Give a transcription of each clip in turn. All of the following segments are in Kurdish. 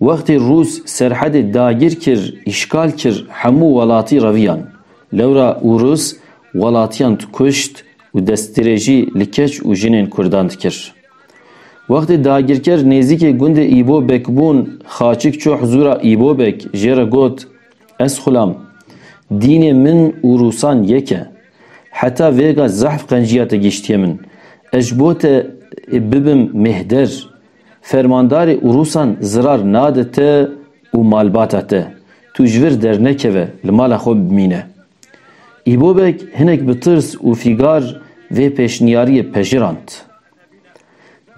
Wextê Rûs serhedê dagir kir, îşgal kir hemû welatî reviyan. Lewra û Rûs welatiyan dikuşt û destdirêjî li keç û jinên Kurdan dikir. Wextê dagirker nêzîkê gundê Îbobek bûn Xaçik çû hizûra Îbobek jê re got, Ez xulam. Dînê min û Rûsan yek e. Heta vêga zehf qenciya te gîştiye min. Ez ji bo te bibim mêhder. Fermandarê Urusan zirar nade te û malbata te. Tu ji vir dernekeve, li mala xwe bimîne. Îbobek hinek bi tirs û fîgar vê pêşniyariyê pejirand.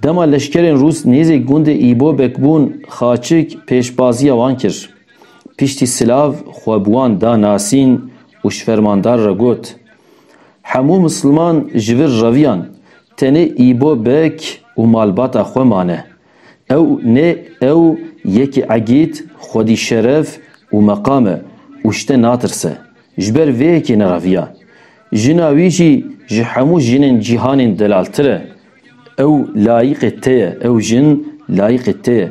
Dema leşkerên Rûs nêzîk gundê Îbobek bûn Xaçik pêşbaziya wan kir. Piştî silav xwe bi wan da nasîn û ji fermandar re got, Hemû misliman ji vir reviyan. Tenê Îbo Beg û malbata xwe mane. Ew nê ew yekî egîd, xwedî şeref û meqam e û ji te natirse. Ji ber vê yekê nereviya. Jina wî jî ji hemû jinên cîhanên delaltir e. Ew layiqê te ye, ew jin layiqê te ye.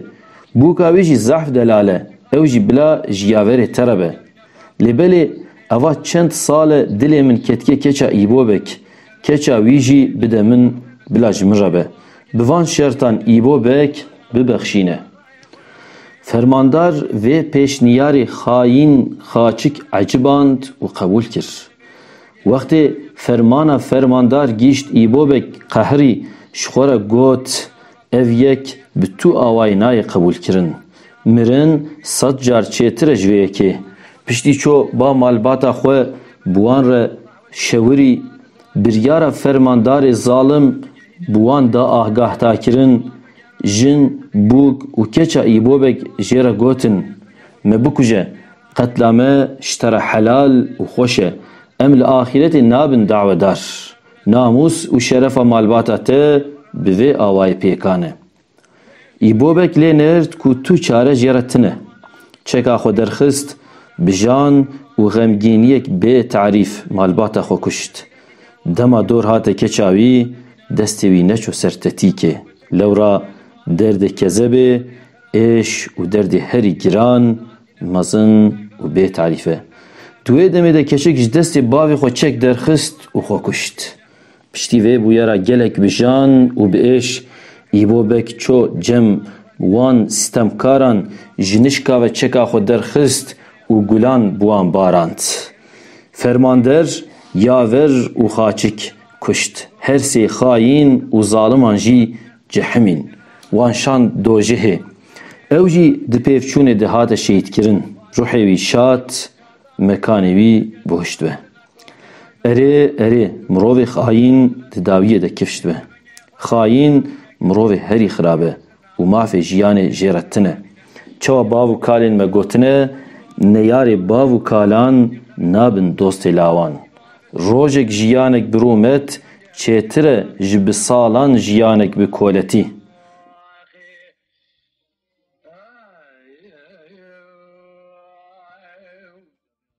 Bûka wî jî zehf delal e, ew jî bila ji yaverê te re be. Lê belê eva çend sal e dilê min ketike keça Îbobek, keça wî jî bide min bila ji min re be. Bi van şertan Îbobek bibexşîne. Fermandar vê pêşniyarê xayîn Xaçik eciband û qebûl kir. Wextê fermana fermandar gîşt Îbobek qehirî ji xwe re got, Ev yek bi tu awayî nayê qebûlkirin. Mirin sed car çêtir e ji vê yekê. Piştî çû ba malbata xwe bi wan re şewirî, biryara fermandarê zalim bi wan da agahdakirin, jin, bûk û keça Îbobek jê re gotin, Me bikuje, qetla me ji te re helal û xweş e, em li axîretê nabin dawedar. Namûs û şerefa malbata te bi vê awayî pêkan e. Îbobek lê nêrd ku tu çare jê re tune. Çeka xwe derxist, bijan û xemgîniyek bê tarîf malbata xwe kuşt. Dema dor hate keça wî, destê wî neçû ser tetîkê. Lewra derdê kezebê, êş û derdê herî giran Mezin û bê tarîf e. Di wê demê de keçik ji destê bavê xwe çek derxist û xwe kuşt. Piştî vê bûyera gelek bi jan û bi êş Îbo Beg ço cem wan sîtemkaran ji nişka ve çeka xwe derxist û gulan bi wan barand. Fermander, yaver û xaçik kuşt. Her sê xayîn û zaliman jî Cihimîn, wan şand dojihê. Ew jî di pêvçûnê de hate şehîdkirin. Ruhê wî şad, mekanê wî bihişt be. Erê, erê, mirovê xayîn di dawiyê de kifşt be. Xayîn, mirovê herî xirab e û mafê jiyanê jê re tune. Çawa bav û kalên me gotine, Neyarê bav û kalan nabin dostê lawan. Rojek jiyanek bi rûmet çêtir e ji bi salan jiyanek bi koletî.